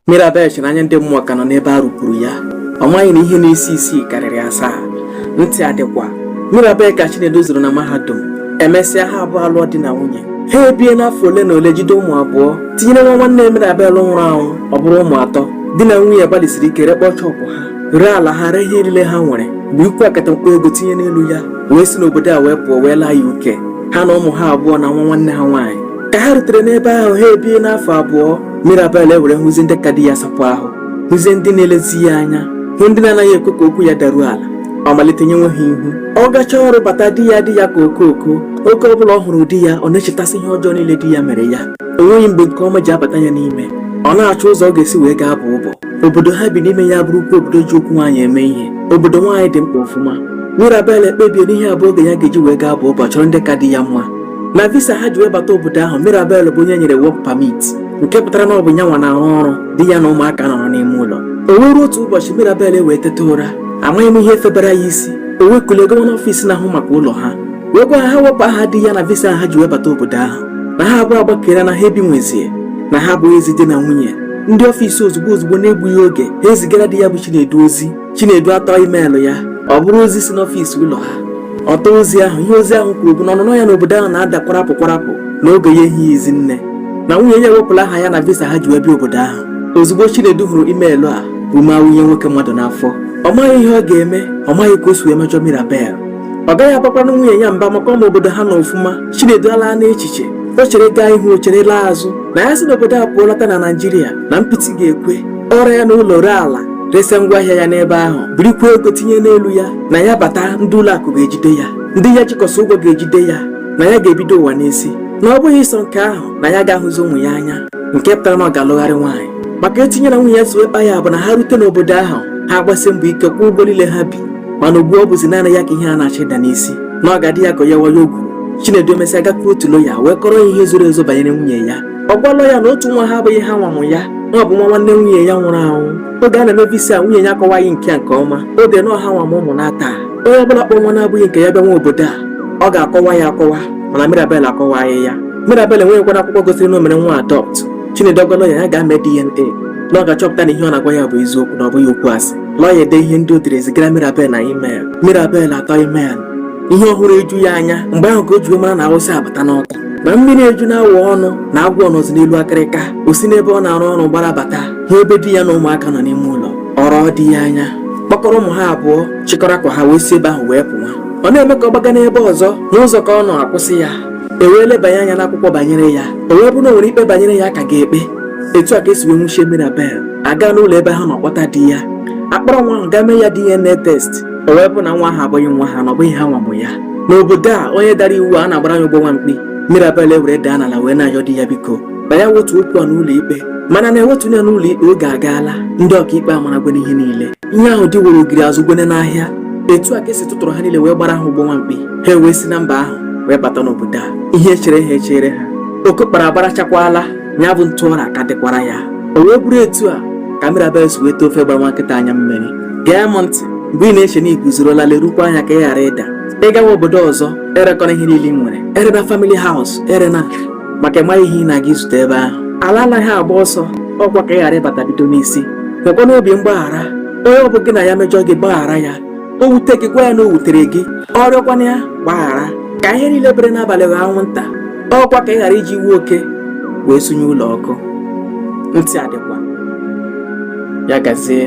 Mirabel chere n'anya ndị mmụọ ka nọ n'ebe a rụpuru ya ọ maghị na ihe na-esi isi karịrị asaa ntị adịkwa Mirabel ka Chinedu zuru na mahadum emesịa ha abụọ alụọ di na nwunye ha ebie n'afọ ole na ole jide ụmụ abụọ tinyere nwa nwanne Mirabel nwụrụ anwụ ọ bụrụ ụmụ atọ di na nwunye gbalịsiri ike rekpọọ shọpụ ha ree ala ha ree ihe niile ha nwere birikwuo akatamkpo ego tinye n'elu ya wee si n'obodo a wee pụọ wee laa UK ha na ụmụ ha abụọ na nwa nwanne ha nwaanyị ka ha rutere n'ebe ahụ ha ebie n'afọ abụọ Mirabel ewere hụzie ndị ka di ya sapụ ahụ hụzie ndị na-elezi ya anya hụ ndị na-anaghị ekwe ka okwu ya daruo ala ọ malite nyenwe ha ihu ọ gacha ọrụ bata di ya adị ya ka okooko oge ọ bụla ọ hụrụ di ya ọ na-echetasị ihe ọjọọ niile di ya mere ya o nweghị mgbe nke ọma ji abata ya n'ime ọ na-achọ ụzọ ọ ga-esi wee gaa bọọ ọbọ obodo ha bi n'ime ya abụrụkwa obodo ji okwu nwaanyị eme ihe obodo nwaanyị dị mkpa ọfụma Mirabel ekpebie na ihe a bụ oge ya ga-eji wee gaa bọọ ọbọ chọrọ ndị ka di ya mma na visa ha ji wee bata obodo ahụ Mirabel bụ onye e nyere work permit nke pụtara na ọ bụ ya nwa na-arụ ọrụ di ya na ụmụaka anọrọ n'ime ụlọ o wee ruo otu ụbọchị Mirabel ewee teta ụra amaghị m ihe febara ya isi o wee kulie gawa n'ọfịs na-ahụ maka ụlọ ha wee gwa ha wepụ aha di ya na visa ha ji wee bata obodo ahụ na ha abụọ agbakere na ha ebi nwezie na ha abụghịzi di na nwunye ndị ọfịs ozugbo ozugbo na-egbughị oge ha ezigara di ya bụ Chinedu ozi Chinedu atọọ imeelụ ya ọ bụrụ ozi si n'ọfịs ụlọ ha ọ tọọ ozi ahụ ihe ozi ahụ kwuru bụ na ọnụnọ ya n'obodo ahụ na-ada kwarapụ kwarapụ na oge ya ehighịzi nne na nwunye ya ewepụla aha ya na visa ha ji wee bịa obodo ahụ ozugbo Chinedu hụrụ imeelụ a ume awụnye nwoke mmadụ n'afọ ọ maghị ihe ọ ga-eme ọ maghị ka o si wee mejọ Mirabel ọ gaghị agbakwanụ nwunye ya mba maka ọ ma obodo ha n'ọfụma Chinedu alaa n'echiche o chere gaa ihu o chere laa azụ na ya si n'obodo a pụọ lọta na Naịjirịa na mpịtị ga-ekwe ọrịa ya na ụlọ ree ala resa ngwa ahịa ya n'ebe ahụ birikwa ego tinye n'elu ya na ya bata ndị ụlọ akụ ga-ejide ya ndị ya jikọsị ụgwọ ga-ejide ya na ya ga-ebido ụwa n'isi na ọ bụghị sọ nke ahụ na ya agaghị ahụzi ụmụ ya anya nke pụtara na ọ ga-alụgharị nwaanyị maka etu ya na nwunye ya si wee kpaa ya bụ na ha rute n'obodo ahụ ha agbasi mbọ ike kwụọ ụgwọ niile ha bi mana ugbu ọ bụzi naanị ya ka ihe a na-achọ ịda n'isi na ọ ga-adị ya ka ya wayo ogwu Chinedu emesịa gakwuru otu lọya wee kọrọ ya ihe zoro ezo banyere nwunye ya ọ gwa lọya na otu nwa ha abụghị ha nwa mụ ya na ọ bụ nwa nwanne nwunye ya nwụrụ anwụ oge a na-eme visa nwunye ya akọwaghị nke a nke ọma o dee na ọ ha nwa mụ ụmụ n'atọ a onye ọbụla kpọ nwa na-abụghị nke ya bịanwa obodo a ọ ga-akọwa ya akọwa mana Mirabel akọwaghị ya Mirabel enweghịkwa akwụkwọ gosiri na o mere nwa a adopt Chinedu ọ gwa lọya ya gaa mee DNA na ọ ga-achọpụta na ihe ọ na-agwa ya bụ eziokwu na ọ bụghị okwu asị lọya edee ihe ndị o dere zigara Mirabel na email Mirabel atọọ email ihe ọ hụrụ eju ya anya mgbe ahụ ka o ji wee mara na Awụsa abata n'Ọka na mmiri ejuna awọ ọnụ na agwọ nọzi n'elu akịrịka o si n'ebe ọ na-arụ ọrụ gbara bata hụ ebe di ya na ụmụaka nọ n'ime ụlọ ọ rọọ di ya anya kpọkọrọ ụmụ ha abụọ chịkọrọ akwa ha wee si ebe ahụ wee pụwa ọ na-eme ka ọ gbaga n'ebe ọzọ n'ụzọ ka ọ nọ a kwụsị ya e wee lebanye anya n'akwụkwọ banyere ya o wee bụrụ na o nwere ikpe banyere ya a ka ga-ekpe etu a ka e si wee nwuchie Mirabel a gaa n'ụlọ ebe ha nọ kpọta di ya a kpọrọ nwa ahụ gaa mee ya DNA test o wee bụ na nwa ahụ abụghị nwa ha na ọ bụghị ha nwa mụ ya n'obodo a onye dara iwu a na-agbara ya ụgbọ nwa mkpi Mirabel ewere daa n'ala wee na-ayọ di ya biko na ya wetu okwu a n'ụlọ ikpe mana na ewetu ya n'ụlọ ikpe oge agaala ndị ọkaikpe amaragwene ihe niile ihe ahụ di woro ogori azụgwone n'ahịa etu a ka e si tụtụrụ ha niile wee gbara ha ụgbọ nwa mkpi ha ewee si na mba ahụ wee bata n'obodo a ihe chere ha echere ha oke kpara agbarachakwala ya bụ ntụ ọra ka dịkwara ya o wee bụrụ etu a ka Mirabel si weta ofe gbara nwa nkịta anya mmiri gee m ntị mgbe ị na-eche na i guzorola lerukwa anya ka ị ghara ịda ị gawa obodo ọzọ erekọrọ ihe niile i nwere erena family house erena maka ị maghị ihe ị na-aga izute ebe ahụ ala anaghị agba ọsọ ọ kwa ka ị ghara ị bata bido n'isi nwekwa n'obi mgbaghara onye ọ bụ gị na ya mejọ gị gbaghara ya o wute gị gwa ya na o wutere gị ọ rịọkwanụ ya gbaghara ka ihe niile bere n'abalị ghọọ anwụnta ọ kwa ka ị ghara iji iwe oke wee sunye ụlọ ọkụ ntị adịkwa ya gazie